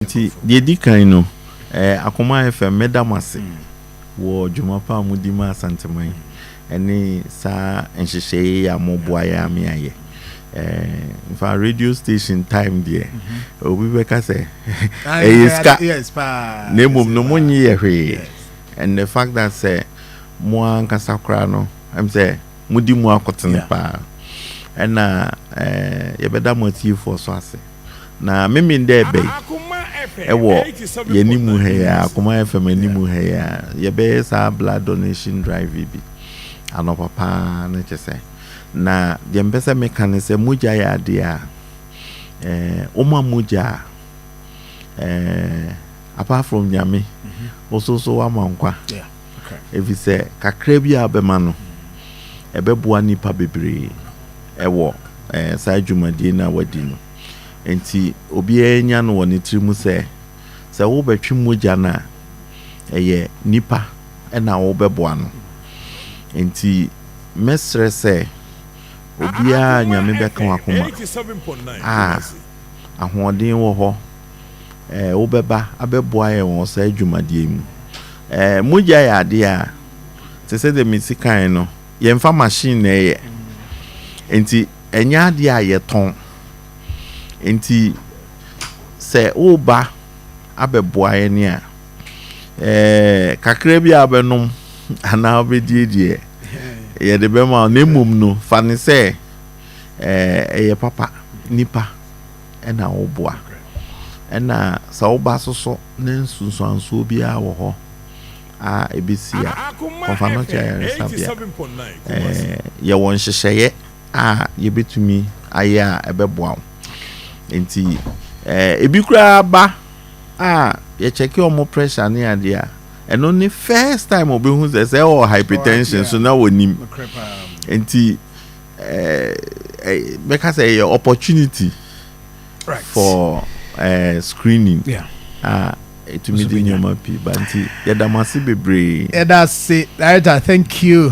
Nti, deɛ ɛdi kan no, ɛɛ Akoma FM, mɛda mo ase wɔ dwuma pa a modi ma Asanteman ɛne saa nhyehyɛeɛ yi a moboa yɛn a me ayɛ. Ɛɛ nfa radio station time deɛ, obi bɛka sɛ ɛyɛ sika, na mmom no monnye yɛ hwee. And the fact that sɛ mo ankasa koraa no, ɛm sɛ modi mu akotene paa. Ɛna ɛɛ yɛbɛda mo atiefoɔ nso ase. Na memmen dɛ bɛn wɔ yɛanim ha yi ara, Akoma FM anim ha yi ara, yɛbɛyɛ saa blood donation drive yi bi anɔpa pa ara no kyɛ sɛ. Na deɛ mepɛ sɛ meka ne sɛ mogya yɛ adeɛ a eh, woma mogya a eh, apart from Nyame, wo so nso woama nkwa. Yeah. efisɛ kakra bi a wobɛma no, ɛbɛboa nnipa bebree wɔ saa dwumadie no a woadi no. Enti obiara nnya no wɔ ne tiri mu sɛ, sɛ worebɛtwe mogya no a, ɛyɛ nnipa na wobɛboa no. Enti mɛsrɛ sɛ obiara a Nyame bɛka w'akoma a ahoɔden wɔ hɔ, wobɛba abɛboa yɛn wɔ saa adwumadeɛ yi mu. Mogya yɛ adeɛ a, te sɛ deɛ mesi kae no, yɛmfa machine na ɛyɛ. Nti ɛnyɛ adeɛ a yɛtɔn. Nti sɛ woba abɛboa yɛn a, kakra bi a wobɛnom anaa wobɛdie deɛ, yɛde bɛma wo. Na mmom no, fa no sɛ ɛyɛ papa nipa. na woboa. Ɛna sɛ woba so so ne nsunsuansoɔ biara wɔ hɔ a ɛbɛsi a, kɔfa no kyɛ ayaresabea. Ɛɛ yɛwɔ nhyehyɛeɛ a yɛbɛtumi ayɛ a ɛbɛboa wo. Nti ɛɛ ebi koraa ba a yɛkyɛke wɔn pressure ne adeɛ a, ɛno ne first time wɔbɛhu sɛ sɛ ɛwɔ hypertension so na wɔnim. Nti bɛka sɛ ɛyɛ opportunity for uh, screening yeah. ah, ɛtumi de nneɛma pii ba nti yɛda mo ase bebree yɛda ase director thank you